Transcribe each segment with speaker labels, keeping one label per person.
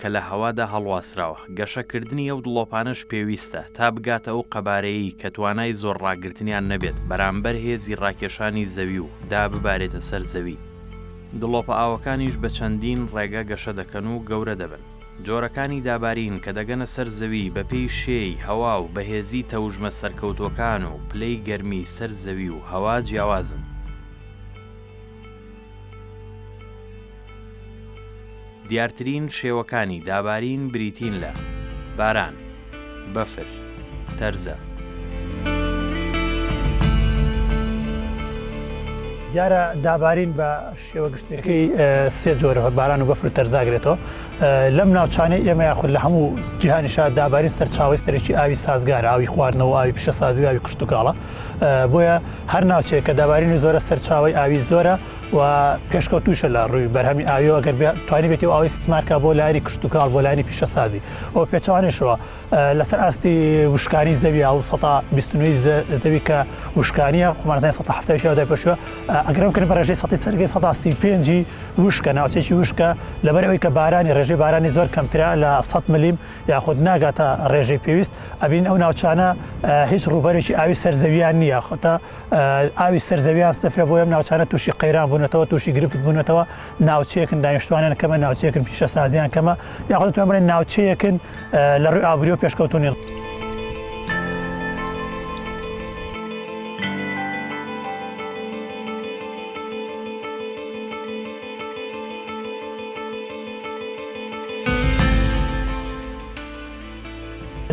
Speaker 1: کە لە هەوادا هەڵواسراوە، گەشەکردنی ئەو دڵۆپانەش پێویستە، تا بگاتە ئەو قەبارەیەی کە توانای زۆر ڕاگرتنیان نەبێت بەرامبەر هێزی ڕاکێشانی زەوی و دا ببارێتە سەر زەوی. دڵۆپە ئاوەکانیش بە چەندین ڕێگە گەشە دەکەن و گەورە دەبن. جۆرەکانی دابارین کە دەگەنە سەر زەوی بە پێی شێی هەوا و بەهێزی تەوژمە سەرکەوتووەکان و پلەی گەرمی سەر زەوی و هەوا جیاوازن. دیارترین شێوەکانی دابارین بریتین لە، باران، بەفر، تەرزە.
Speaker 2: دیارە دابارین بە شێوە گشتەکەی سێ جۆرە بە باران و بەفر و تەرزاگرێتەوە لەم ناوچانەی ئێمە یاخود لە هەموو جیهانیشا دابارین سەرچاوی سەرێکی ئاوی سازگار ئاوی خواردنەوە ئاوی پیشە سازوی ئاوی کشتتوکاڵە بۆیە هەر ناوچەیە کە دابارینی زۆرە سەرچاوی ئاوی زۆرە و پێشکەوتوشە لە ڕووی بەرهەمی ئاوی ئەگەر توانی بێتی و ئەوی سمارکە بۆ لاری کشتتوکاڵ بۆ لانی پیشەسازی ئەو پێچوانێشەوە لەسەر ئاستی وشکانی زەوی ئەو 1920 زەوی کە وشکانیە خمانزای 1970 پێشوە ئەگرم کرد بە ڕێژەی 1935 وشکە ناوچێکی وشکە لەبەر ئەوی کە بارانی ڕێژەی بارانی زۆر کەمترا لە 100 ملیم یاخود ناگاتە ڕێژەی پێویست ئەبین ئەو ناوچانە هیچ ڕوبەرێکی ئاوی سەر زەویان نییە خۆتە ئاوی سەر زەویان سفرە بۆ ئەم ناوچانە تووشی قەیران بوونەتەوە تووشی گرفت بوونەتەوە ناوچەیەکن دانیشتوانیان کەمە ناوچەیەکن پیشە سازیان کەمە یاخۆتوان بڵێن ناوچەیەکن لە ڕووی ئابری و پێشکەوتونی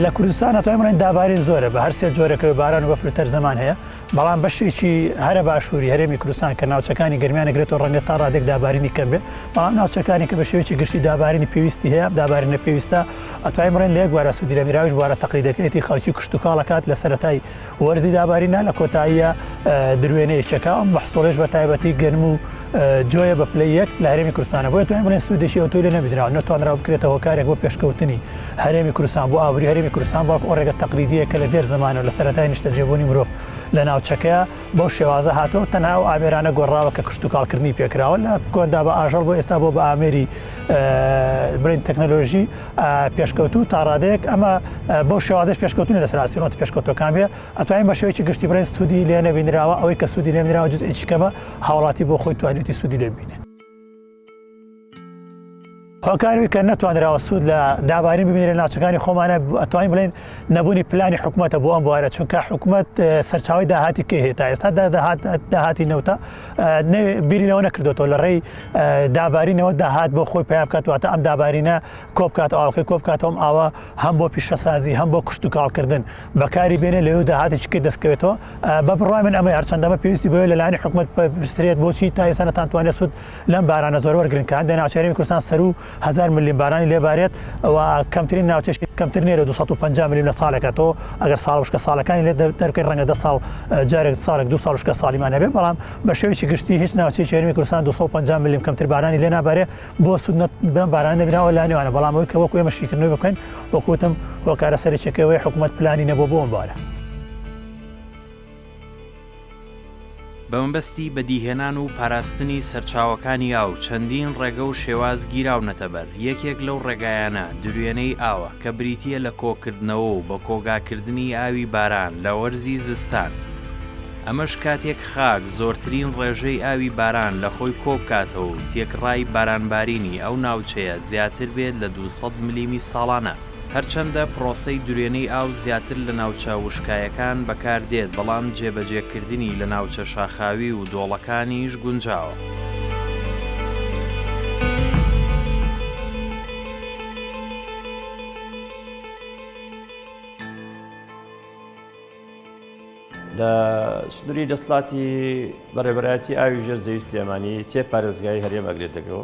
Speaker 2: لە کوردستان ئەتوانین بڵێن دابارین زۆرە بە هەر سێ جۆرەکەوە باران و بەفر و تەرزەمان هەیە بەڵام بەشێکی هەرە باشووری هەرێمی کوردستان کە ناوچەکانی گەرمیان نەگرێتەوە ڕەنگە تا ڕادێک دابارینی کەم بێت بەڵام ناوچەکانی کە بە شێوەیەکی گشتی دابارینی پێویستی هەیە دابارینە پێویستە ئەتوانین بڵێن لە یەک بوارە سوودی لە میراویش بوارە تەقلیدەکەیەتی خەڵکی کشتتوکاڵەکات لە سەرەتای وەرزی دابارینە لە کۆتاییە دروێنەی چەکە ئەم بەحسۆڵێش بە تایبەتی گەرم و جۆیە بە پلی یەک لە هەرێمی کوردستانە بۆ توانین بڵێن سوودێکی ئەو تۆی لە نەبدراوە نەتوانرا بکرێتە هۆکارێک بۆ پێشکەوتنی هەرێمی کوردستان بۆ ئابووری هەرێمی کوردستان بەڵکو ئەو ڕێگە تەقلیدیە کە لە دێر زمانەوە لە سەرەتای نیشتەجێبوونی مرۆڤ لە ناوچەکەیە بەو شێوازە هاتووە تەنها و ئامێرانە گۆڕاوە کە کشتتوکاڵکردنی پێکراوە لە کۆندا بە ئاژەڵ بۆ ئێستا بۆ بە ئامێری برین تەکنەلۆژی پێشکەوتوو تاڕادەیەک ئەمە بۆ شێوازش پێشکەوتنی لەسەر ئاسیۆنەت پێشکەوتەکان بێ ئەتوانین بە شێوەیەکی گشتی برێن سوودی لێ نەبینراوە ئەوەی کە سوودی لێ نراوە جز ئێکی کەمە هاوڵاتی بۆ خۆی توانێتی سوودی لێ بینێ هۆکاروی کە نەتوانراوە سوود لە دابارین ببینێ ناوچەکانی خۆمانە ئەتوانین بڵێن نەبوونی پلانی حکوومەتە بۆ ئەم بوارە چونکە حکوومەت سەرچاوی داهاتی کە هێتا ئێستا داهات داهاتی نەوتە بیری لەوە نەکردوەوە لە ڕێی دابارینەوە داهات بۆ خۆی پیا بکاتواتە ئەم دابارینە کۆبکات ئاڵخی کۆبکاتەوەم ئاوا هەم بۆ پیشەسازی هەم بۆ کوشت و کاڵکردن بەکاری بێنێ لەو داهاتێکی کرد دەستکەوێتەوە بە بڕای من ئەمە هەرچەندەمە پێویستی بۆ لەلایانی حکوومەت پرسرێت بۆچی تا ئێسانەتان توانێت سوود لەم بارانە زۆر وەرگرن کە هەندێک ناچارێن کوردستان سەرو هەزار ملم بارانی لێ بارێت ئەوە کەمترین ناوچەش کەمتر نێرە 250 ملم لە ساڵێکە تۆ ئەگەر ساڵ وشکە ساڵەکانی لێ دەرکەی ڕەنگە دە ساڵ جارێک ساڵێک دو ساڵ وشکە ساڵیمان هەبێ بەڵام بە شێوەیەکی گشتی هیچ ناوچەی هەرێمی کوردستان 250 ملم کەمتر بارانی لێ نابارێ بۆ سوود بەم باران نەبیناوە لا نێوانە بەڵام ئەوەی کە وەکو ئێمە شیکردنەوەی بکەین وەکوتم هۆکارە سەرچەکەوەی حکوومەت پلانی نەبوو بۆم بارە.
Speaker 1: بە مەبەستی بەدیهێنان و پاراستنی سەرچاوەکانی ئاو چەندین ڕێگە و شێواز گیراونەتە بەر، یەکێک لەو ڕێگایانە دروێنەی ئاوە کە بریتییە لە کۆکردنەوە و بەکۆگاکردنی ئاوی باران لە وەرزی زستان، ئەمەش کاتێک خاک زۆرترین ڕێژەی ئاوی باران لە خۆی کۆبکاتەوە و تێکڕای بارانبارینی ئەو ناوچەیە زیاتر بێت لە دوو سەد ملیمی ساڵانە. هەرچەندە پڕۆسەی درێنەی ئاو زیاتر لە ناوچە وشکایەکان بەکاردێت، بەڵام جێبەجێکردنی لە ناوچە شاخاوی و دۆڵەکانیش گونجاوە.
Speaker 3: لە سنووری دەسەڵاتی بەڕێوەبەرایەتی ئاوی ژێر زەوی سلێمانی سێ پارێزگای هەرێم ئەگرێتەگەوە.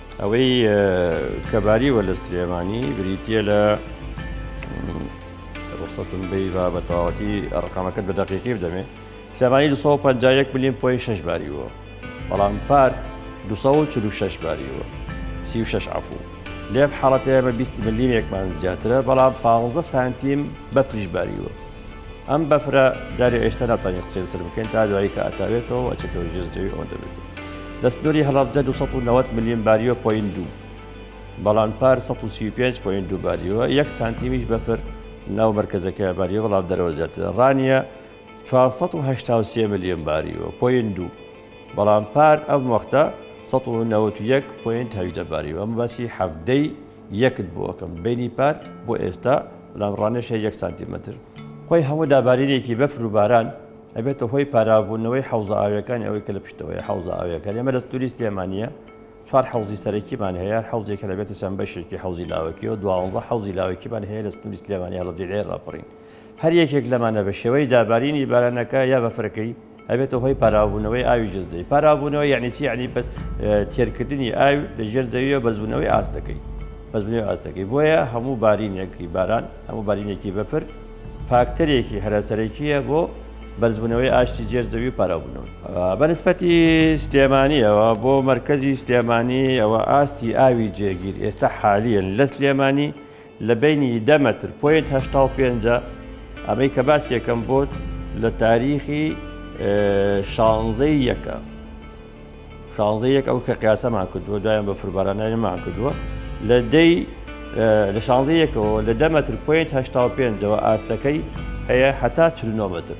Speaker 3: ئەوەی کە باری وەلە سلێمانی بریتە لە ڕوخسەتون بی و بە تەواوەتی ڕقامەکەت بە دەقیقی بدەمێ سلێمانی 251 ملیم پۆی شش باریوە بەڵام پار 246 باریوە 36 عفو لێم حاڵەتەیە بە 20 ملیمێکمان زیاترە بەڵام 15 سانتیم بەفریش باریوە ئەم بەفرە جاری ئێشتا ناتوانێت قسەی سەر بکەین تا دوایی کە ئەتاوێتەوە ئەچێتەوە ژێر زەوی ئەوەندە بێت لە سنووری هەڵەبجە 290 ملیم باریۆ پۆین دوو بەڵام پار 135 پۆین دوو باریوە یەک سانتیمیش بەفر ناو مەرکزەکە باریوە بەڵام دەرەوە زیاتر ڕانیە 483 ملیۆن باریوە پۆین دوو بەڵام پار ئەم وەختە 1970 پۆینت هەژدە باریوە ئەم باسی هەفتەی یەکت بۆ ئەکەم بینی پار بۆ ئێستا برام ڕانێشێ یەک سانتیمەتر خۆی هەموو دابارینێکی بەفر و باران ئەبێتە هۆی پاراوبوونەوەی حەوزە ئاویەکانی ئەوەی کە لە پشتەوەی حەوزە ئاویەکان ئێمە لە توریست لێمانە چوار حەوزی سەرەکیمان هەیە حەوزێک کە لەبێتە چەند بەشێکی حەوزی لاوەکی و دوانزە حەوزی لاوەکیمان هەیە لە توریست لێمانە هەڵبجێ ڕاپڕین هەر یەکێک لەمانە بە شێوەی دابارینی بارانەکە یا بەفرەکەی ئەبێتە هۆی پاراوبوونەوەی ئاوی ژێر زەوی پاراوبوونەوە یعنی چی یعنی تێرکردنی ئاوی لە ژێر زەویەوە بەزبوونەوەی ئاستەکەی بەزبنەوەی ئاستەکەی بۆیە هەموو بارینێکی باران هەموو بارینێکی بەفر فاکتەرێکی هەراسەرەکیە بۆ بەرزبوونەوەی ئاشتی جێر زەوی پاراوبنەوە بەنسبەتی سلێمانیەوە بۆ مرکزی سلێمانی ئەوە ئاستی ئاوی جێگیر ئێستا حالیان لە سلێمانی لە بەینی دە مەتر پۆینت هەشتا و پێنج ئەمەی کە باسیەکەم بۆت لە تاریخی شانزەی یەکە شانزە یەک ئەو کە قیاسەمان کردووە دوایان بە فربارانەمان کردووە لە دەی لە شانزە یەکەوە لە دەمەتر پوینت هشتا پێنجەوە ئاستەکەی هەیە حتا چلنۆمەتر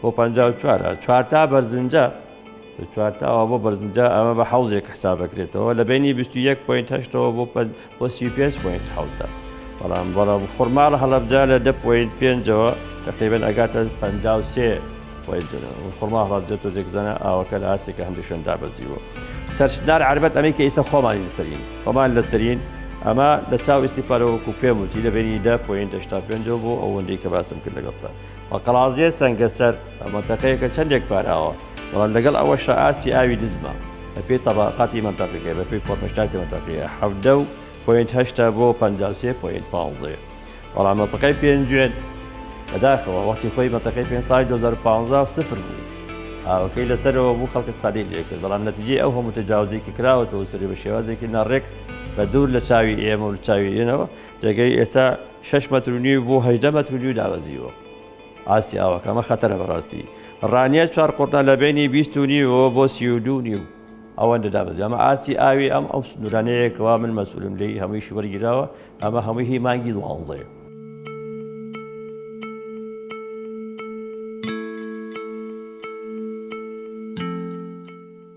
Speaker 3: بۆ پەنجا و چوار هەر چوار تا بەرزنجە لە چوار تاوە بۆ بەرزنجە ئەمە بە حەوزێک حساب دەکرێتەوە لە بینی 21 پوینت هەشتەوە بۆ بۆ 35 پوینت حوتە بەڵام بەڵام خورماڵ هەڵبجا لە دە پوینت پێنجەوە تقریبن ئەگاتە پ سێ خورما هەڵبجە تۆزێک زەنە ئاوەکە لە ئاستێکە هەندی شوێندا بەزیوە سەرشدار عربەت ئەمریکا ئیسە خۆمانی لەسەرین خۆمان لەسەرین ئەمە لە چاو ئیسیپارەوەکو پێم وتی لە بینی دە پوینت هشتا پێنجەوە بۆ ئەوەندەی کە باسم کرد لەگەڵتە قەڵازییە سەنگەسەر مەنتەقەیەکە چەندێک پاراوە، بەڵام لەگەڵ ئەوەشا ئاستی ئاوی نزمە بەپێی تەبەقاتی مەنتەقەکە، بەپێی فۆرمەشتاتی مەنتەقەیە حەڤدە و پۆینت هەشتا بۆ پەنجا و سێ پۆینت پانزەیە، بەڵام مەنتەقەی پێنجوێن بەداخەوە وەختی خۆی مەنتەقەی پێنج ساڵی دوو هەزار و پازدە سفر بوو، ئاوەکەی لەسەرەوە بوو خەڵک ئیستفادەی لێکرد، بەڵام نەتیجەی ئەو هەموو تەجاوزەی کە کراوەتەوە سەری بەشێوازێکی ناڕێک بەدوور لەچاوی ئێمە و لەچاوی ئێنەوە جێگەی ئێستا شش مەتر و نیو بۆ هەدە مەتر و نیو دابەزیوە ئاستی ئاوەکە ئەمە خەتەرە بەڕاستی ڕانیە چوار قڕدا لە بینی بیست و نیوەوە بۆ سی و دوو نیو ئەوەندە دابەزی ئەمە ئاستی ئاوی ئەم ئەو سنوورانەیەکەوە من مەسولم لی هەمووی شوەرگیراوە ئەمە هەمووی هی مانگی دوانزەیە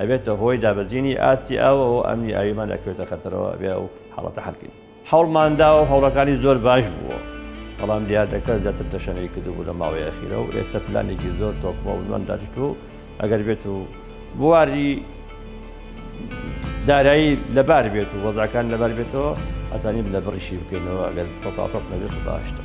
Speaker 3: ئەبێتە هۆی دابەزینی ئاستی ئاو و ئەمنی ئاویمان ئەکەوێتە خەتەرەوە ئەبێ ئەو حاڵەتە حەل بکەین هەوڵمان داوە و هەوڵەکانی زۆر باش بووە بەڵام دیاردەکە زیاتر تەشەنەی کردبوو لە ماوەی ئەخیرە و ئێستا پلانێکی زۆر تۆکمە و نوان داچت و ئەگەر بێت و بواری دارایی لەبار بێت و وەزاکان لەبار بێتەوە ئەزانیم لە بڕیشی بکەینەوە ئەگەر سە سە نەبێت سەهشتا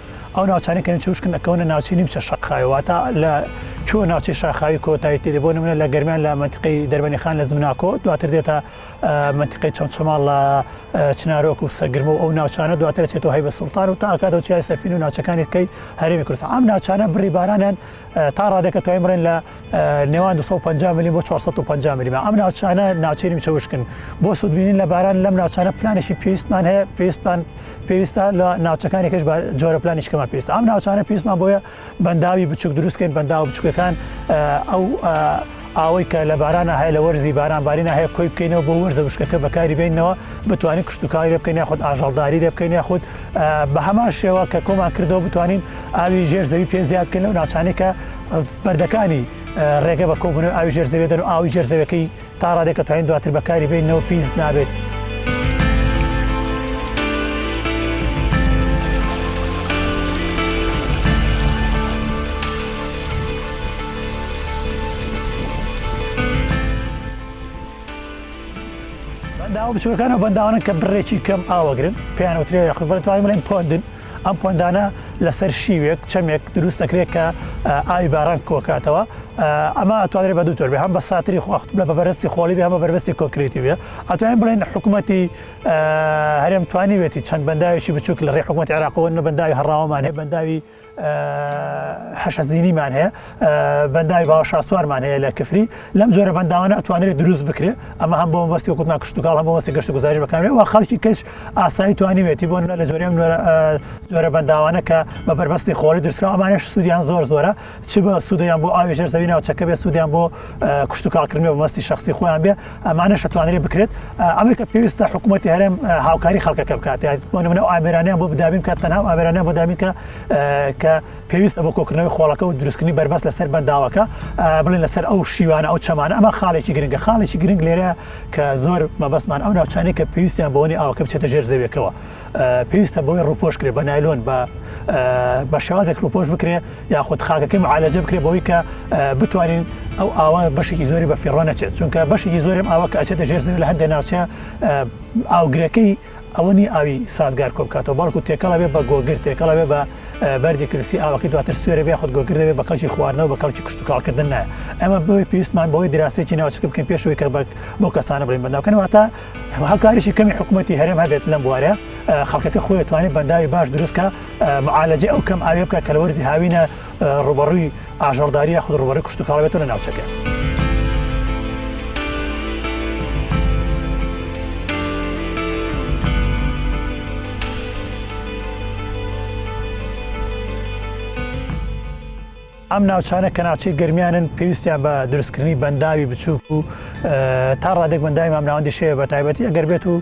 Speaker 2: ئەو ناوچانەی کە نیمچە وشکن ئەکەونە ناوچی نیمچە شەقخاوی واتا لە چۆ ناوچەی شاخاوی کۆتایی تێدێ بۆ نمونە لە گەرمیان لە منتقی دەربەنیخان لە زمناکۆ دواتر دێتە منتقی چۆن چماڵ لە چنارۆک و سەگرم و ئەو ناوچانە دواتر چێتەوە هەی بە سوڵتان و تاکاتەوە چای سەفین و ناوچەکانی کەی هەرێمی کوردستان ئەم ناوچانە بڕی بارانیان تا ڕادەکە توای بڕێن لە نێوان 250 ملی بۆ 450 ملی ئەم ناوچانە ناوچێنی چەوشکن بۆ سوودبینین لە باران لەم ناوچانە پلانێکی پێویستمان هەیە پێویستمان پێویستە لە ناوچەکانێکش جۆرە پلانیشکەمان پێست ئەم ناوچانە پێستمان بۆیە بەنداوی بچوک دروستکەین بەنداو بچووکەکان ئەو ئاوەی کە لە بارانە هەیە لە وەرزی باران بارینە هەیە کۆی بکەینەوە بۆ وەرزە وشکەکە بەکاری بینەوە بتوانین کشتتوکاری لێ بکەین یاخود ئاژەڵداری لێ بکەین یاخود بە هەمان شێوە کە کۆمان کردەوە بتوانین ئاوی ژێر زەوی پێ زیاد بکەین لەو ناچانێکە بەردەکانی ڕێگە بە کۆبوون ئاوی ژێر زەوێ دەن و ئاوی ژێر زەوەکەی تا ڕادێکە توانین دواتر بەکاری بینەوە پیس نابێت. بەنداوە بچووەکان و بەنداوانن کە بڕێکی کەم ئاوەگرن پێیان وترێ یاخود بەتوانین بڵێن پۆندن ئەم پۆندانە لەسەر شیوێک چەمێک دروست دەکرێت کە ئاوی باران کۆکاتەوە ئەمە ئەتوانێت بە دوو جۆر بێ هەم بە ساتری خواخت لە بەبەرستی خۆڵی بێ هەمە بەربستی کۆکرێتی بێ ئەتوانین بڵێن حکوومەتی هەرێم توانیوێتی چەند بەنداوێکی بچووک لە ڕێ حکوومەت عراقەوە نە بەنداوی هەڕاوەمانێ بەنداوی حەشە زینیمان هەیە بەنداوی باوە شاسوارمان هەیە لە کفری لەم جۆرە بەنداوانە ئەتوانێت دروست بکرێ ئەمە هەم بۆ بەستی کوتنا کشتتوکڵ هەم بۆسی گەشت گوزارش بەکارێ و خەڵکی کەش ئاسایی توانیوێتی بۆ لە جۆرێم جۆرە بەنداوانە کە بە بەربەستی خۆری درسکە ئەمانش سوودیان زۆر زۆرە چ بە سوودیان بۆ ئاوی ژەر زەوی ناوچەکە بێ سوودیان بۆ کشتتوکڵکردنی بە مەستی شخصی خۆیان بێ ئەمانەش توانرێ بکرێت ئەوەی کە پێویستە حکوومەتتی هەرێم هاوکاری خەڵکەکە بکات بۆ منە ئامرانیان بۆ بدابین کە تەنها ئامرانیان بۆ دابین کە کە پێویستە بۆ کۆکردنەوەی خۆڵەکە و دروستکردنی بەربەست لەسەر بەنداوەکە بڵێن لەسەر ئەو شیوانە ئەو چەمانە ئەمە خاڵێکی گرنگە خاڵێکی گرنگ لێرە کە زۆر مەبەستمان ئەو ناوچانەی کە پێویستیان بۆنی ئاوکە بچێتە ژێر زەویەکەوە پێویستە بۆی ڕوپۆش کرێ بە نایلۆن بە بە شێوازێک ڕوپۆش بکرێ یاخود خاکەکەی معالەجە بکرێ بەوەی کە بتوانین ئەو ئاوا بەشێکی زۆری بە فیڕۆ نەچێت چونکە بەشێکی زۆرم ئاوا کە ئەچێتە ژێر زەوی لە هەندێک ناوچە ئاوگرەکەی ئەوەنی ئاوی سازگار کۆ بکاتەوە بەڵکو تێکەڵە بێ بە گۆگر تێکەڵە بێ بە بەردی کرسی ئاوەکە دواتر سوێرە بێ خود گۆگر دەبێ بە کەڵکی خواردنەوە بە کەڵکی کشتتوکاڵکردن نایە ئەمە بۆی پێویستمان بۆی دراستێکی ناوچک بکەین پێشەوەی کە بەک بۆ کەسانە بڵین بەناوکەنەوەتا هەروەها کاریشی کەمی حکومەتی هەرێم هەبێت لەم بوارە خەڵکەکە خۆی توانێت بەنداوی باش دروستکە معالەجێ ئەو کەم ئاوێ بکە کە لە وەرزی هاوینە ڕوبەڕووی ئاژەڵداریە خود ڕوبەڕی کوشتتوکڵێتەوە لە ناوچەکە. ئەم ناوچانە کە ناوچەی گەرمیانن پێویستیان بە دروستکردنی بەنداوی بچووک و تا ڕادێک بەنداوی مامناوەندی شێ بە تایبەتی ئەگەر بێت و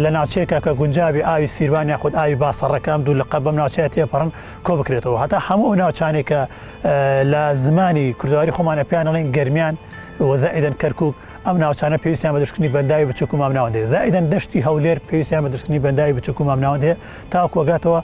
Speaker 2: لە ناوچەیەکە کە گونجابی ئاوی سیروان یاخود ئاوی باسەڕەکەم دوو لە قەبم ناوچەیە تێپەڕن کۆ بکرێتەوە هەتا هەموو ئەو ناوچانێکە لە زمانی کوردواری خۆمانە پێیان ئەڵین گەرمیان وەزائدن کەرکک ئەم ناوچانە پێویستیان بە دروستکردنی بەنداوی بچووک و مامناوەندێ زائدن دەشتی هەولێر پێویستیان بە دروستکردنی بەنداوی بچووک و مامناوەندێ تاکوەگاتەوە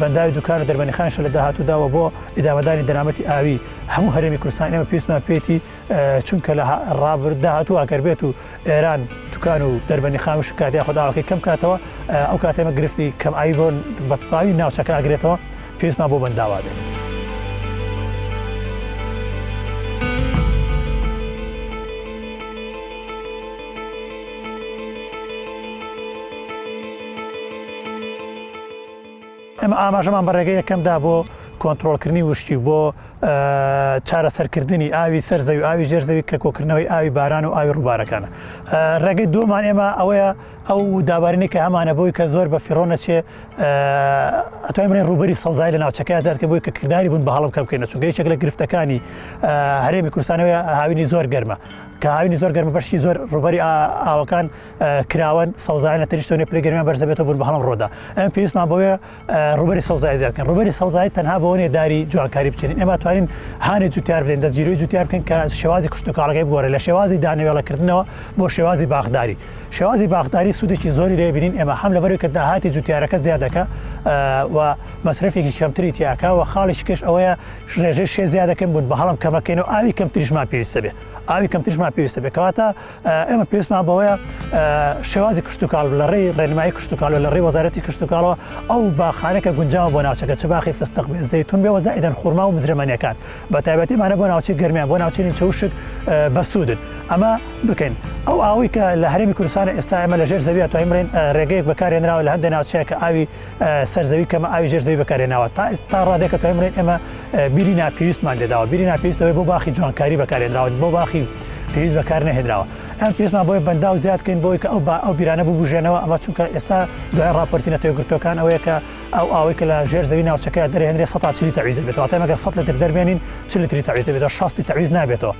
Speaker 2: بەنداوی دوکان و دەربەنیخانشە لە داهاتوودا و بۆ ئیدامەدانی دەرامەتی ئاوی هەموو هەرێمی کوردستان ئێمە پێویستمان پێێتی چونکە لە ڕابرد داهاتوو ئەگەر بێت و ئێران دوکان و دەربەنی خام شکاتی خودداوەکەی کەم کاتەوە ئەو کاتێمە گرفتی کەم ئاوی بۆن بەتباوی ناوچەکە ئەگرێتەوە پێویستمان بۆ بەنداوا بێت. ئێمە ئاماژەمان بە ڕێگە یەکەمدا بۆ کۆنتترۆلکردنی وشکی و بۆ چارەسەرکردنی ئاوی سەر زەوی ئاوی ژێر زەوی کە کۆکردنەوەی ئاوی باران و ئاوی ڕووبارەکانە ڕێگەی دومان ئێمە ئەوەیە ئەو دابارینی کە هەمانە بۆی کە زۆر بە فیڕۆنە چێ ئەتوای منی ڕوبەری سەوزای لە ناوچەکە زیاتکە بۆی کە کردداری بوون بە هەڵم کەم بکەینە چونگە یەکێک لە گرفتەکانی هەرێمی کورسانەوە هاوینی زۆر گەرمە کە هاوینی زۆر گەرمە بەشی زۆر ڕوبەری ئاوەکان کراوەن سەوزایان لە تەنیشتۆنێ پلە گەرمیان بەرزەبێتەوە بوون بە هەڵم ڕۆدا ئەم پێویستمان بۆیە ڕوبەری سەوزای زیادکەن ڕوبەری سەوزایی تەنها بۆنێ داری جوانکاری بچێن ئێمە توانین هاانی جوتیار بدەین دەزیرۆی جوتیار بکەن کە شێوازی کشتتوکارەکەی بگۆرە لە شێوازی دانەوێڵەکردنەوە بۆ شێوازی باخداری شێوازی باخداری سوودێکی زۆری لێ بینین ئێمە هەم لەبەر کە داهاتی جوتیارەکە زیادەکە و مەسرفێکی کەمتری تیاکە و خاڵێکی کەش ئەوەیە ڕێژەی شێ زیادەکەن بوون بە هەڵم کەمەکەین و ئاوی کەمتریشمان پێویستە بێ ئاوی کەمتریشمان پێویستە بێ کەواتە ئێمە پێویستمان بەوەیە شێوازی کشتتوکال لە ڕێی ڕێنمایی کشتتوکال و لە ڕێ وەزارەتی کشتتوکالەوە ئەو باخانێکە گونجاوە بۆ ناوچەکە چ باخی فستق بێ زەتون بێ وەزایدەن خورما و مزرمەنیەکان بە تایبەتیمانە بۆ ناوچی گەرمیان بۆ ناوچین چوشک بەسوودن ئەمە بکەین ئەو ئاوی کە لە هەرمی کوردستان ئێستا ئەمە لە ژێر زەویە توانین ڕێگەیەک بەکارێنراوە لە هەندێک ناوچەیە کە ئاوی سەرزەوی کەمە ئاوی ژێر زەوی بەکارێناوە تا ئێستا ڕادێکە توای بڵێن ئێمە بیری ناپێویستمان لێداوە بیری ناپێویستەوەی بۆ باخی جوانکاری بەکارێنراون بۆ باخی پێویست بەکار نەهێنراوە ئەم پێستمان بۆی بەندا و زیادکەین بۆی کە ئەو با ئەو بیرانە ببژێنەوە ئەمە چونکە ئێستا دوای راپۆرتی نەتەوە گرتوەکان ئەوەیە کە ئەو ئاوەی کە لە ژێر زەوی ناوچەکە دەرهێنرێ سە چلی تەویز بێتەوە تا مەگەر سە لەتر دەربێنین چ لەتری تەویز بێتەوە شستی تەویز نابێتەوە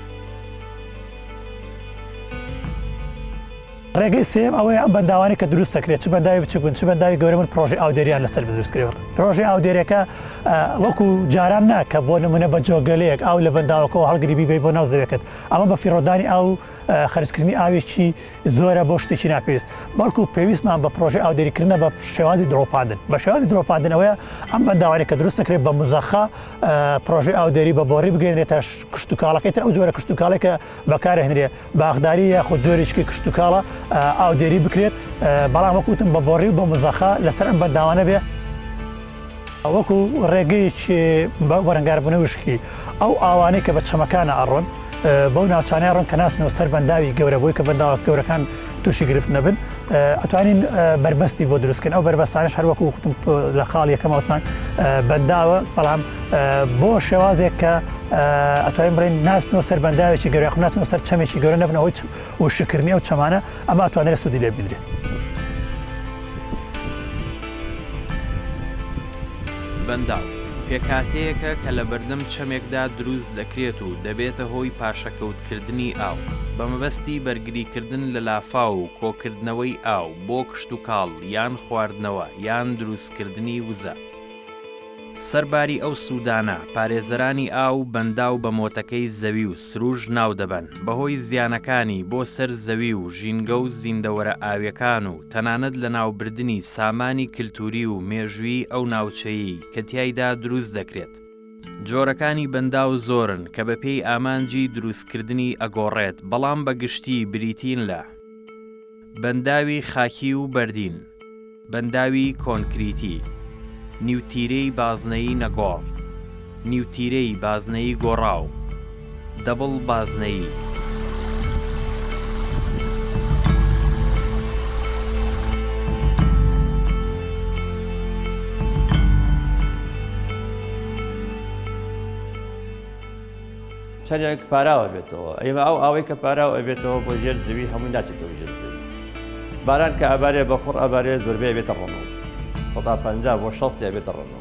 Speaker 2: ڕێگەی سێیەم ئەوەیە ئەم بەنداوانەی کە دروست دەکرێت چ بەنداوی بچوک بن چ بەنداوی گەورە بن پرۆژەی ئاودێریان لەسەر دروست کرێت پرۆژەی ئاودێرەکە وەکو جاران نا کە بۆ نمونە بە جۆگەلەیەک ئاو لە بەنداوەکەەوە هەڵگری بیبی بۆ ناو زەوێکت ئەمە بە فیڕۆدانی ئاو خەرجکردنی ئاوێکی زۆرە بۆ شتێکی ناپێویست بەڵکو پێویستمان بە پرۆژەی ئاودێریکردە بە شێوازی درۆپاندن بە شێوازی درۆپاندنەوەیە ئەم بەنداوانێک کە دروست دەکرێت بە مزەخە پرۆژەی ئاودێری بە بۆری بگەێنێتە کشتتوکاڵەکەی تر ئەو جۆرە کشتتوکاڵێکە بەکارهێنرێ باخداری یاخود جۆریشکی کشتتوکاڵە ئاودێری بکرێت بەڵام وەکوتم بە بۆڕی و بە مزەخە لەسەر ئەم بەنداوانە بێ ئەوەکو ڕێگەیەکی بەرەنگاربوون وشکی ئەو ئاوانەی کە بە چەمەکانە ئەڕۆن بەو ناوچانە ڕۆن کە ناسنەوە سەر بەنداوی گەورە بووی کە بەنداوە گەورەکان تووشی گرفت نەبن ئەتوانین بربەستی بۆ دروستکن ئەو بربەستانش هەروەکو وکتم لە خاڵ یەکەمەوتمان بەنداوە بەڵام بۆ شێوازێک کە ئەتوانین بڵێن ناستنەوە سەر بەنداوێکی گەرە خناچەوە سەر چەمێکی گەورە نەبنەوەی و شکردنی ئەو چەمانە ئەمە توانێت سوودی لێ بدرێت
Speaker 1: بەنداو پێکاتەیەکە کە لە بەردەم چەمێکدا دروست دەکرێت و دەبێتە هۆی پاشەکەوت کردنی ئاو بە مەبەستی بەرگری کردن لە لافاو و کۆکردنەوەی ئاو بۆ کشتوکاڵ یان خواردنەوە یان دروست کردنی وزە. سەرباری ئەو سوودانە، پارێزەرانی ئاو بەنداو بە مۆتەکەی زەوی و سروش ناو دەبەن بەهۆی زیانەکانی بۆ سەر زەوی و ژینگە و زیندەوەرە ئاویەکان و تەنانەت لەناوبردنی سامانی کلتوری و مێژویی ئەو ناوچەیەی کە تیایدا دروست دەکرێت جۆرەکانی بەنداو زۆرن کە بە پێی ئامانجی دروستکردنی ئەگۆڕێت بەڵام بە گشتی بریتین لە بەنداوی خاکی و بەردین، بەنداوی کۆنکریتی، نیوتیرەی بازنەیی نەگۆڕ، نیوتیرەی بازنەیی گۆڕاو، دەبڵ بازنەیی.
Speaker 3: چەنێک پاراوە بێتەوە ئەیمە ئەو ئاوەی کە پاراو ئەبێتەوە بۆ ژێر زەوی هەمووی ناچێتەوە ژێر زەوی باران کە ئەبارێ بە خوڕ ئەبارێ زۆربەی بێتە ڕۆنۆ سەدا پەنجا بۆ شەست ئەبێتە ڕۆنۆ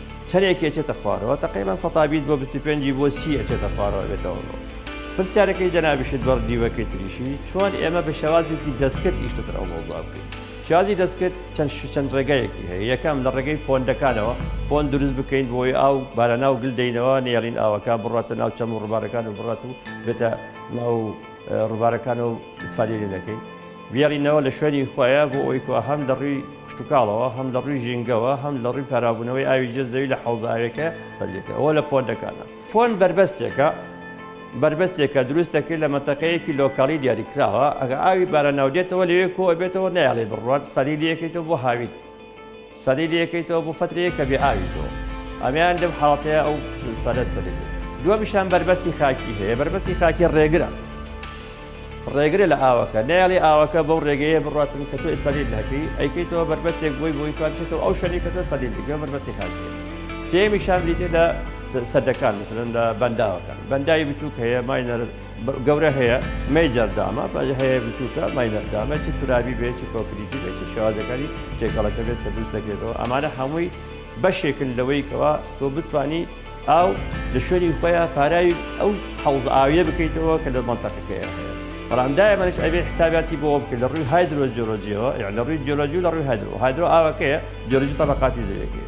Speaker 3: تەرێکی ئەچێتە خوارەوە تەقەیبەن سەتابیت بۆ بیست و پێنجی بۆ سی ئەچێتە خوارەوە بێتەوە بۆ پرسیارەکەی جەنابیشت بەڕ دیوەکەی تریشی چۆن ئێمە بە شێوازێکی دەستکرد ئیش لەسەر ئەو مەوزوع بکەین شازی دەستکرد چەند شوچەند ڕێگایەکی هەیە یەکەم لە ڕێگەی پۆندەکانەوە پۆن دروست بکەین بۆی ئاو بارەناو گل دەینەوە نێڵین ئاوەکە بڕاتە ناو چەم و ڕووبارەکان و بڕات و بێتە ناو ڕووبارەکانەوە ئیسفادەی لێ دەکەین بێڕینەوە لە شوێنی خۆیە بۆ ئەوی کو هەم لە ڕووی کشتتوکاڵەوە هەم لە ڕووی ژینگەوە هەم لە ڕووی پارااببوونەوەی ئاوی جێ زەوی لە حوزاوێکە بەردێکە ئەوە لە پۆندەکانە پۆن بربەستێکە بربەستێکە دروست دەکرێت لە مەتەقەیەکی لۆکاڵی دیاریکراوە ئەگە ئاوی بارە ناودێتەوە لەوێ کۆ بێتەوە نایڵێ بڕوات سەری لەکەیتەوە بۆ هاوین سەری لێکەیتەوە بۆ فەترەیەک کە بێ ئاوی تۆ ئەمیان لەم حاڵەتەیە ئەو سەرەت فەتێک دووەمیشان بەربەستی خاکی هەیە بەربەستی خاکی ڕێگرە ڕێگرە لە ئاوەکە نایڵی ئاوەکە بەو ڕێگەیە بڕاتن کە تۆ ئیسفەلیل ناکەی ئەیکەیتەوە بەربەستێک بۆی بۆی توانچێتەوە ئەو شەری کە تۆ فەلیل دیگە بەربەستی خاکی سێمیشان بریتێ لە سەدەکان مثلن لە بەنداوەکان بەنداوی بچووک هەیە ماینەر گەورە هەیە مەیجەر دامە بەجە هەیە بچووکە ماینەر دامە چ تورابی بێت چ کۆکریتی بێت چ شێوازەکانی تێکەڵەکە بێت کە دروست دەکرێتەوە ئەمانە هەمووی بەشێکن لەوەی کەوا تۆ بتانی ئاو لە شوێنی خۆیان پاراوی ئەو حەوز ئاویە بکەیتەوە کە لە منتەقەکەیە هەیە بەڵام دایمەش ئەبێ حساباتی بۆ بکرد لە ڕووی هایدرۆ جۆلۆجیەوە یان لە ڕووی جۆلۆجی لە ڕووی هایدرۆ هایدرۆ ئاوەکەیە جۆلۆجی تەبقاتی زەوەکەی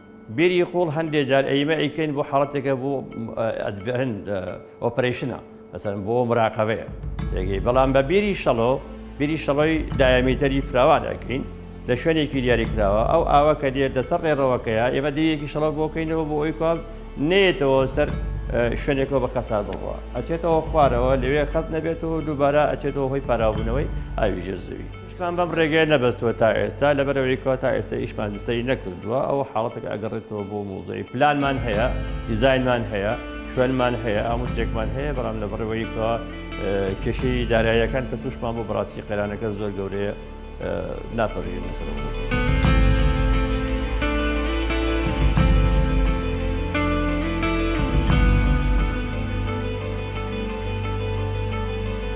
Speaker 3: بیری قوڵ هەندێ جار ئەیمە ئەیکەین بۆ حاڵەتێکە بۆ ئەدڤێن ئۆپەرەیشنە مەسەن بۆ مراقەبەیە دەگەی بەڵام بە بیری شەڵۆ بیری شەڵۆی دایامیتەری فراوان ئەکەین لە شوێنێکی دیاری کراوە ئەو ئاوە کە دێت دەسەر ڕێڕەوەکەیە ئێمە دیەکی شەڵۆ بۆکەینەوە بۆ ئەوی کام نێتەوە سەر شوێنێکەوە بە خەسار بڕوە ئەچێتەوە خوارەوە لەوێ خەت نەبێتەوە دووبارە ئەچێتەوە هۆی پاراوبوونەوەی ئاوی ژێر زەوی ئیشمان بەم ڕێگەیە نەبەستووە تا ئێستا، لەبەرئەوەی کە تا ئێستا ئیشمان لەسەری نەکردووە، ئەوە حاڵەتێکە ئەگەڕێتەوە بۆ موزەی. پلانمان هەیە، دیزاینمان هەیە، شوێنمان هەیە، هەموو شتێکمان هەیە، بەڵام لەبەڕێوەی کە کێشەی داراییەکان کە تووشمان بوو بەڕاستی قەیرانەکە زۆر گەورەیە ناپەرژین لەسەر.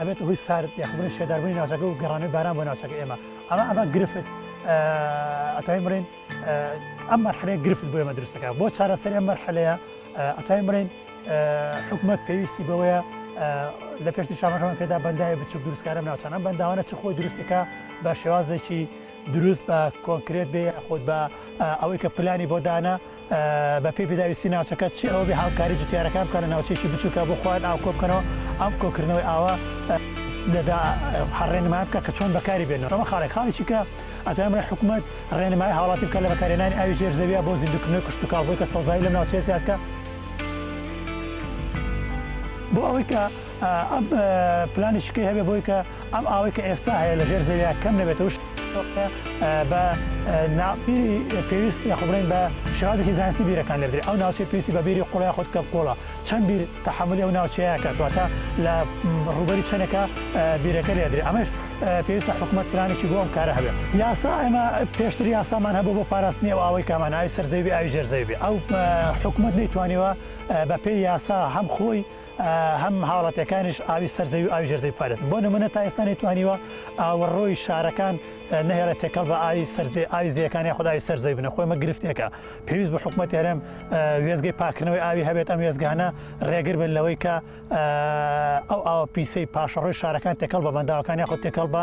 Speaker 2: ئەبێتە هۆی سارد یاخ بڵێ شێداربوونی ناوچەکە و گەڕانەوەی باران بۆ ناوچەکە ئێمە ئەمە ئەمە گرفت ئەتوانین بڵێن ئەم مەرحەلەیە گرفت بۆ ئێمە دروستەکە بۆ چارەسەر ئەم مەرحەلەیە ئەتوانین بڵێن حکومت پێویستی بەوەیە لە پێشتی شامەکەمان پێدا بەندای بچوک دروستکارم ناوچانە بەنداوانە چ خۆی دروستەکە بە شێوازێکی دروست بە کۆنکرێت بێ خۆت بە ئەوەی کە پلانی بۆ دانا بە پێی پێداویستی ناوچەکە چی ئەوەبێ هاوکاری جوتیارەکان بکەن لە ناوچێکی بچووکە بۆ خۆیان ئاو کۆ بکەنەوە ئەم کۆکردنەوەی ئاوە لەدا هەڕێنمای بکە کە چۆن بەکاری بێنەوە ئەمە خاڵی خاڵێکی کە ئەتوانم لە حکوومەت ڕێنمای هاوڵاتی بکە لە بەکارێنانی ئاوی ژێر زەویە بۆ زیندوکردنەوەی کشتتوکاڵ بۆی کە سەوزایی لەم ناوچەیە زیادکە بۆ ئەوەی کە ئەپ پلانی شکەی هەبێ بۆی کە ئەم ئاوەی کە ئێستا هەیە لە ژێر زەویا کەم نەبێتەوە بە ناپیری پێویست یاخبرین بە شازێکی زانستی بیرەکان لەبێ ئەو ناوچێ پێویستی بە بیری قوڵای خۆت کە قۆڵە چەند بیر تحملی ئەو ناوچەیە کاتواتە لە ڕوبەری چەنەکە بیرەکە لێدرێ ئەمەش پێویستە حکوومەت پلانێکی بۆ ئەم کارە هەبێ یاسا ئەمە پێشتر یاسامان هەبوو بۆ پاراستنی و ئەوەی کامان ئای سەرزەوی ئاوی ژێرزەوی ئەو حکوومەت نەیتوانیوە بە پێی یاسا هەم خۆی هەم هاوڵاتیەکانیش ئاوی سەرزەوی و ئاوی ژێرزەوی پارێزن بۆ نمونە تا ئێستا نەیتوانیوە ئاوەڕۆی شارەکان نەهێڵە تێکەڵ بە ئاوی سەرزێ ئاوی زیەکانی خدای سەرزەوی بنە خۆمە گرفتێکە پێویست بە حکوومەت هەرم وێزگەی پاکردنەوەی ئاوی هەبێت ئەم وێزگانە ڕێگر بن لەوەی کە ئەو ئاوە پیسی پاشەڕۆی شارەکان تێکەڵ بە بەنداوەکانی خۆ تێکەڵ بە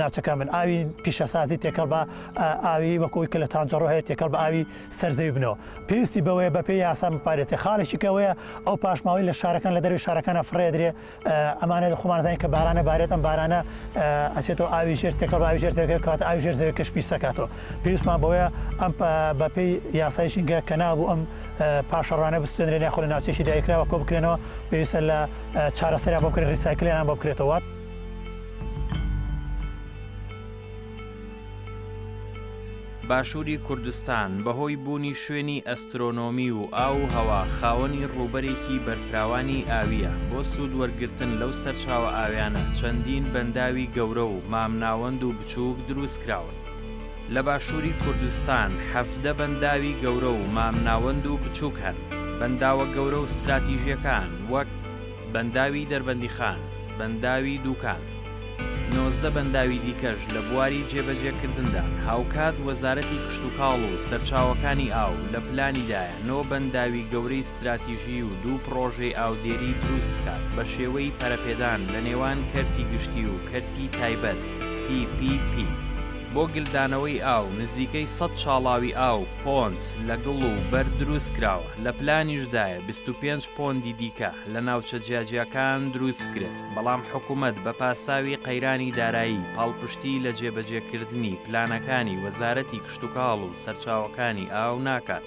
Speaker 2: ناچەکان من ئاوی پیشەسازی تێکەڵ بە ئاوی وەکوی کە لە تانجەڕۆ هەیە تێکەڵ بە ئاوی سەرزەوی بنەوە پێویستی بەوەیە بەپێ یاسا بپارێتێ خاڵێکی کەوەیە ئەو پاشماوەی لە شارەکان لە دەروی شارەکانە فڕێدرێ ئەمانە خۆمانزانانی کە بارانە بارێت ئەم بارانە ئەچێتەوە ئاوی ژێر تێکە بە ئاوی ژێر زەوەکە کات ئاوی ژێر زەوە کەش پیسەکاتەوە پێویستمان بەوەیە ئەم بەپی یاسایشینگە کە نابوو ئەم پاشەڕانە بستێنرێن یاخۆ لە ناوچێکی دایکراوە کۆ بکرێنەوە پێویستە لە چارەسەریا بۆ بکرێت ریسایکلیان بۆ بکرێتەوە.
Speaker 1: باشووری کوردستان بەهۆی بوونی شوێنی ئەسترۆنۆمی و ئاو و هەوا خاوەنی ڕووبەرێکی بەرفراوانی ئاوییە بۆ سوود وەرگرتن لەو سەرچاوە ئاویانە چەندین بەنداوی گەورە و مامناوەند و بچووک دروست کراون لە باشووری کوردستان حەڤدە بەنداوی گەورە و مامناوەند و بچووک هەن بەنداوە گەورە و ستراتیژیەکان وەک بەنداوی دەربەندیخان، بەنداوی دووکان، نۆزدە بەنداوی دیکەش لە بواری جێبەجێکردندان، هاوکات وەزارەتی کشتوکاڵ و سەرچاوەکانی ئاو لە پلانیدایە نۆ بەنداوی گەورەی ستراتیژی و دوو پڕۆژەی ئاودێری دروست بکات بە شێوەی پەرەپێدان لە نێوان کەرتی گشتی و کەرتی تایبەت PPP بۆ گلدانەوەی ئاو، نزیکەی سەد شاڵاوی ئاو، پۆند، لە گڵ و بەرد دروستکراوە، لە پلانیشدایە بیست و پێنج. پۆندی دیکە لە ناوچە جیاجیاکان دروست بکرێت، بەڵام حکومەت بە پاساوی قەیرانی دارایی پاڵپشتی لە جێبەجێکردنی پلانەکانی وەزارەتی کشتوکاڵ و سەرچاوەکانی ئاو ناکات.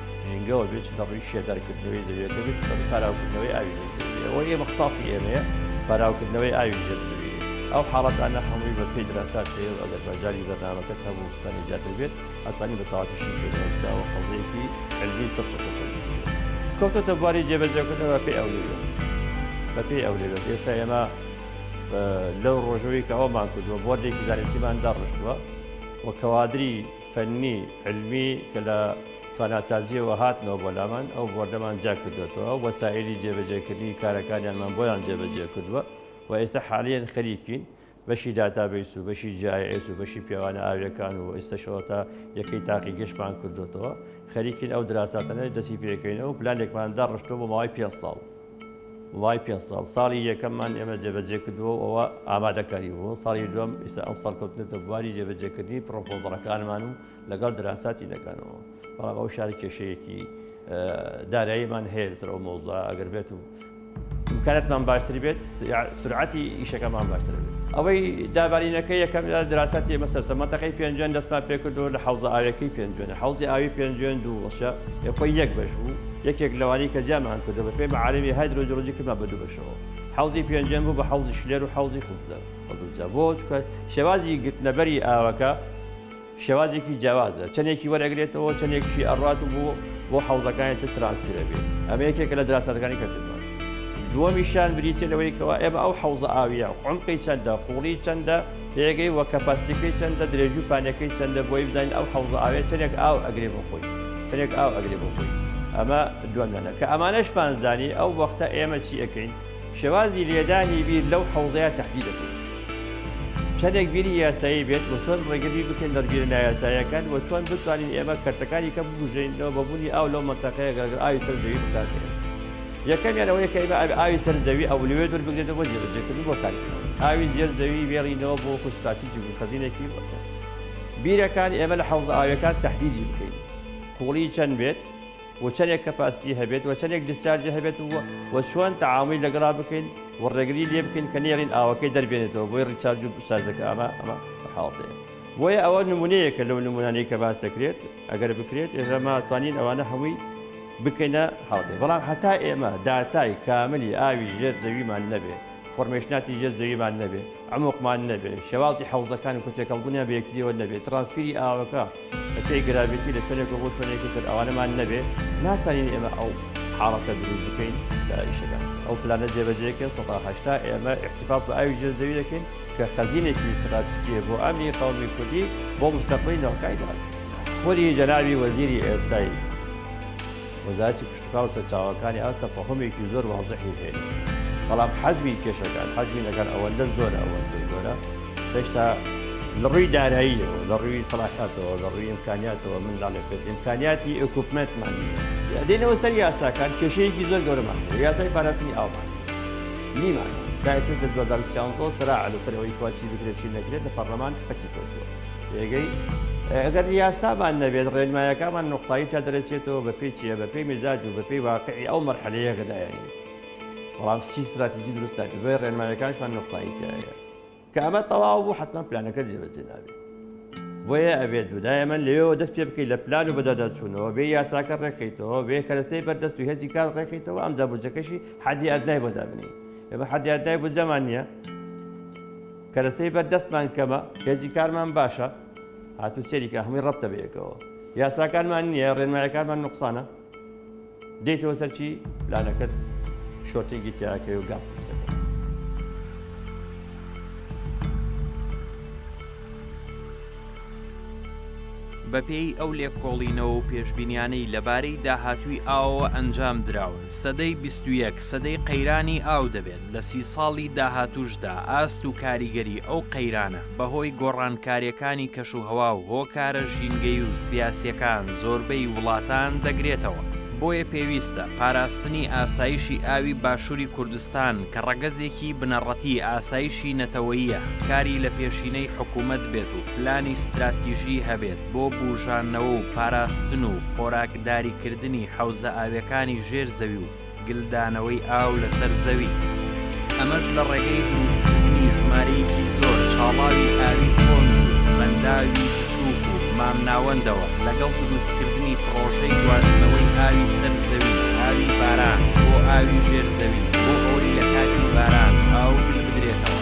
Speaker 3: ژینگەوە بێت چ دەڕووی شێدەرکردنەوەی زەویەکە بێت دەڕووی پاراوکردنەوەی ئاوی ئەوە ئێمە قساسی ئێمەیە پاراوکردنەوەی ئاوی ژێرزەوی ئەو حاڵەتانە هەمووی بە پێی دراسات هەیە و ئەگەر بەجاری بەرنامەکە هەبوو بەنی زیاتر بێت ئەتوانی بە تەواویشی پێداوە قەزەیەکی علمی سەفر کەوتۆتە بواری جێبەجێکردنەوە پێ ئەو لێبێت بە پێی ئەو لێبێت ئێستا ئێمە لەو ڕۆژەوەی کە ئەومان کردووە بۆردێکی زانستیمان داڕشتووە و کەوادری فەنی، علمی کە لە تواناسازییەوە هاتنەوە بۆ لامان، ئەو بۆردەمان جیا کردۆتەوە، ئەو وەسائیلی جێبەجێکردنی کارەکانیانمان بۆیان جێبەجێ کردووە و ئێستا حالیەن خەریکین بەشی داتابەیس و بەشی جی ئای ئێس و بەشی پێوانە ئاوییەکان و ئێستەشەوە تا یەکەی تاقیگەشتمان کردۆتەوە، خەریکین ئەو دراساتانە دەستی پێکەینەوە و پلانێکمان داڕشتووە بۆ ماوەی پێنج ساڵ. ماوەی پێنج ساڵ ساڵی یەکەممان ئێمە جێبەجێ کردووە و ئەوە ئامادەکاری بوو ساڵی دوم ئیسا ئەم ساڵ کەوتنێتە بواری جێبەجێکردنی پرۆپۆزەڵەکانمان و لەگەڵ دراساتی دەکەنەوە بەڵام ئەو شار کێشەیەکی داراییمان هەیە لەسەر ئەو مۆزە ئەگەر بێت و امکاناتمان باشتر بێت سرعەتی ئیشەکەمان باشتر بێت ئەوەی دابارینەکە یەکەم دراساتی ئمە سەرسە مەتەقی پێنجێن دەستمان پێکردو لە حوزە ئاوەکەی پێنجێن حوزی ئاوی پێنجێن دوو وەشە یەخۆی یەک بەش بوو یەکێک لەوانەی کە جیامان کردووە بەپێی مەعاریفی هایدرۆجیۆلۆجی کردمان بە دوو بەشەوە، حەوزی پێنجەم بوو بە حەوزی شلێر و حەوزی خزلەر، خزلجە، بۆ؟ چونکە شێوازی گرتنەبەری ئاوەکە شێوازێکی جیاوازە، چەندێکی وەرئەگرێتەوە، چەندێکیشی ئەڕوات و بۆ بۆ حەوزەکانی تر ترانسفێر ئەبێت، ئەمە یەکێکە لە دراسەتەکانی کە کردمان. دووەمیشیان بریتییە لەوەی کەوا ئێمە ئەو حەوزە ئاوییە عومقی چەندە، قووڵی چەندە؟ پێگەی وە کەپاستی کەی چەندە درێژی و پانیەکەی چەندە بۆی بزانین ئەو حەوزە ئاوێ چەنێک ئاو ئەگرێ بۆ خۆی چەنێک ئاو ئەگرێ بۆ خۆی ئەمە دومیانە کە ئەمانەش پانزدانی ئەو وەختە ئێمە چی ئەەکەین شێوازی لێدانی بیر لەو حەوزەیە تهدی دەکەین چەندێک بیری یاسایی بێت و چۆن ڕێگەری بکەین دەرگیر نایاسایەکان و چۆن بتوانین ئێمە کەرتەکانی کە بگوژێنەوە بەبوونی ئاو لەو منتەقەیە گەرگەر ئاوی سەر زەوی بکاتێن یەکەمیان ئەوەیە کە ئێمە ئاوی ئاوی سەر زەوی ئەو لەوێ دوور بگرێتەوە بۆ جێبەجێکردن بۆ کارکردن ئاوی زێر زەوی وێڕینەوە بۆ وەکو ستراتیجی بوو خەزینێکی بەکە بیرەکان ئێمە لە حەوزە ئاویەکان تهدیدی بکەین قوڵی چەند بێت و چەندێک کەپاستی هەبێت و چەندێک دیسچارجی هەبێت و و چۆن تەعامی لەگەڵا بکەین و ڕێگری لێ بکەین کە نێرین ئاوەکەی دەربێنێتەوە بۆی ڕیچارج و سازەکە ئەمە ئەمە حاڵتەیە بۆیە ئەوە نمونەیەکە لەو نمونانەی کە باس دەکرێت ئەگەر بکرێت ئێرەما توانین ئەوانە هەمووی بکەینە هەڵدێ بەڵام هەتا ئێمە داتای کاملی ئاوی ژێر زەویمان نەبێ فۆرمێشناتی ژێر زەویمان نەبێ ئەمۆقمان نەبێ شێوازی حەوزەکان و کۆتێکەڵبوونیان بەیەکتریەوە نەبێت ترانسفری ئاوەکە بەپێی گراوێتی لە شوێنێک بۆ شوێنێکی تر ئەوانەمان نەبێ ناتوانین ئێمە ئەو حاڵەتە دروست بکەین لە ئیشەکان ئەو پلانە جێبەجێکن 1970 ئێمە احتفاف بە ئاوی ژێر زەوی دەکەین کە خەزینێکی ستراتیجیە بۆ ئەمنی قەومی کوردی بۆ مستەقبەی ناوکایدا. خوری جەنابی وەزیری ئێستای وەزارەتی کشتوکاڵ و سەرچاوەکانی ئاو تەفەهومێکی زۆر وازحی هەیە بەڵام حەجمی کێشەکان حەجمی نەکان ئەوەندە زۆرە ئەوەندە زۆرە هێشتا لەڕووی داراییەوە لەڕووی سەڵاحاتەوە لەڕووی ئیمکانیاتەوە من ناڵێ پێت ئیمکانیاتی ئۆکوپمنتمان دێنەوە سەر یاساکان کێشەیەکی زۆر گەورەمان یاسای پاراستنی ئاومان نیمە تا ئێستەش لە دوو هەزار و سیانزە وە سەراعە لە سەر ئەوەی کوا چی بکرێت چی نەکرێت لە پەڕلەمان پەکی کەوتووە رێگەی ئەگەر یاسامان نەبێت ڕێنمایەکانمان نوقسایی تا دەرەچێتەوە بە پێی چیە بە پێی مزاج و بە پێی واقعی ئەو مەرحەلەیە گەدایانی بەڵام سی ستراتیجی دروست نابێت بۆیە ڕێنمایەکانشمان نوقسایی تایە کە ئەمە تەواو بوو حەتمەن پلانەکە جێبەجێ نابێت بۆیە ئەبێت دودایە من لەوێەوە دەست پێ بکەیت لە پلان و بەدەدەچوونەوە بێ یاساکە ڕێکەیتەوە بێ کەرەستەی بەردەست و هێزی کار ڕێکەیتەوە ئەم دابوجەکەشی حەدی ئەدنای بۆ دابنی ئێمە حەدی ئەدنای بودجەمان نییە کەرەستەی بەردەستمان کەمە هێزی کارمان باشە هاتو سێریکە هەمووی ڕەبتە بەیەکەوە یاساکانمان نییە ڕێنمایەکانمان نقصانە دێیتەوە سەر چی پلانەکەت شۆرتینگی تیاکەی و گاپ قورسەکە
Speaker 1: بەپێی ئەو لێکۆڵینەوە و پێشبینیانەی لەبارەی داهاتووی ئاوەوە ئەنجام دراوە سەدەی 21 سەدەی قەیرانی ئاو دەبێت لە سی ساڵی داهاتوشدا ئاست و کاریگەری ئەو قەیرانە بەهۆی گۆڕانکاریەکانی کەش و هەوا و هۆکارە ژینگەی و سیاسیەکان زۆربەی وڵاتان دەگرێتەوە بۆیە پێویستە پاراستنی ئاسایشی ئاوی باشووری کوردستان کە ڕەگەزێکی بنەڕەتی ئاسایشی نەتەوەیە کاری لە پێشینەی حکوومەت بێت و پلانی ستراتیژی هەبێت بۆ بوژانەوە و پاراستن و خۆراکداریکردنی حەوزە ئاویەکانی ژێر زەوی و گلدانەوەی ئاو لەسەر زەوی، ئەمەش لە ڕێگەی دروستکردنی ژمارەیەکی زۆر چاڵاوی ئاوی تۆند و بەنداوی بچووک و مامناوەندەوە، لەگەڵ دروستکردنی پڕۆژەی گواستنەوەی ئاوی سەر زەوی، ئاوی باران، بۆ ئاوی ژێر زەوی، بۆ ئەوەی لە کاتی باران ئاو گل بدرێتەوە.